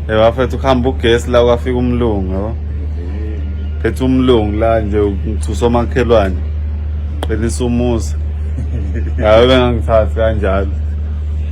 Hey bafethu ukuhamba ugesi la kwafika umlungu yabo. Phethe umlungu la nje ngithusa omakhelwane. Qinisa umuzi. Ngabe bengangithathi kanjalo.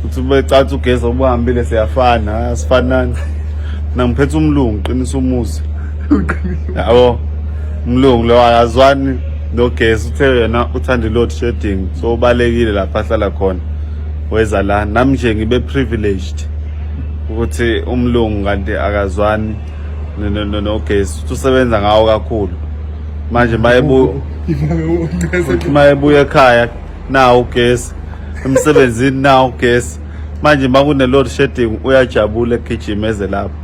Uthi becathi ugesi obuhambile siyafana, asifanani. Mina ngiphethe umlungu qinisa umuzi. Yabo. Umlungu lo akazwani nogesi uthe yena uthanda i-load shedding so ubalekile lapha ahlala khona weza la nami nje ngibe privileged ukuthi umlungu kanti akazwani nogesi uthi usebenza ngawo kakhulu manje mayebuthi mayebuya ekhaya nawo ugesi emsebenzini nawo ugesi manje uma kune-load shedding uyajabula egijima eze lapho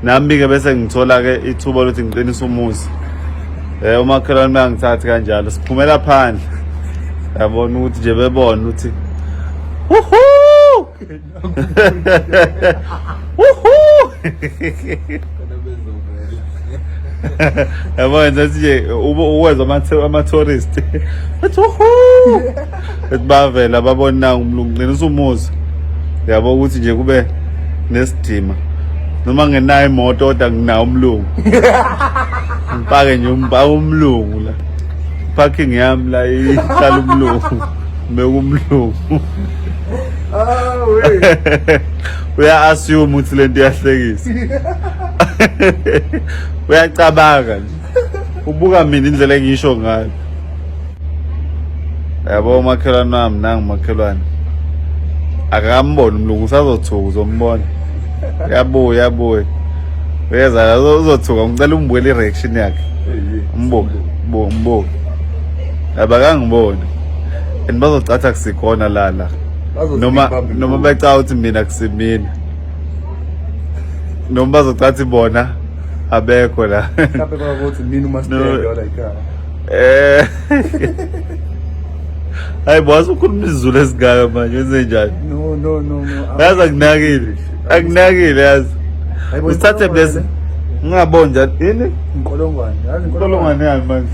nami-ke bese ngithola-ke ithuba lokuthi ngiqinise umuzi um umakhelwane bengangithathi kanjalo siphumela phandle yabona ukuthi nje bebona ukuthi yabo yenza ukuthi nje uwezwa ama-tourist ethi uhu ethi bavela babona nangu umlungu ngcina usumuza yabo ukuthi nje kube nesidima noma ngenayo imoto kodwa nginawo umlungu ngipake nje umbaka umlungu la parking yami la ihlala umlungu mbekumlungu uya assume ukuthi lento iyahlekisa uyacabanga nje ubuka mina indlela engisho ngayo yabo umakhelwane wami nangu umakhelwane akakamboni umlungu usazothuka uzombona uyabuya uyabuya uyeza uzothuka ngicela umbukele i-reaction yakhe umbuke mbuke abakangiboni and bazocatha kusikhona lana noma noma becawa ukuthi mina kusimina noma bazocathi bona abekho la mhlawumbe bakuthi mina uma sibheke wala ikhaya eh hayi boss ukhuluma izulu esingaka manje wenze njani no no no no yazi akunakile akunakile yazi usithathe blessing ngingaboni njani yini inkolongwane yazi inkolongwane yani manje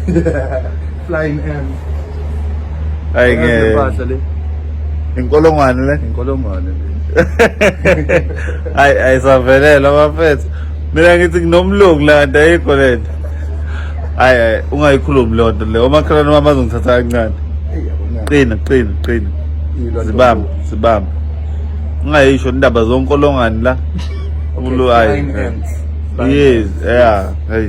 Flying M. Ayi Yazi ngeke. impahla le. Inkolongwane le. Inkolongwane le. Ayi ayisavelela bafethu. Mina ngithi nginomlungu la kanti ayikho lento. Ayi ayi ungayikhulumi lonto le. Omakhelwane wami bazongithatha kancane. Eyi yabona. Qina qina qina. Ilwa Zibamba ntombi. zibamba. Ungayisho indaba zonkolongwane la. Okay, Ulu ayi. flying ants. Flying Yes, yeah. Hey.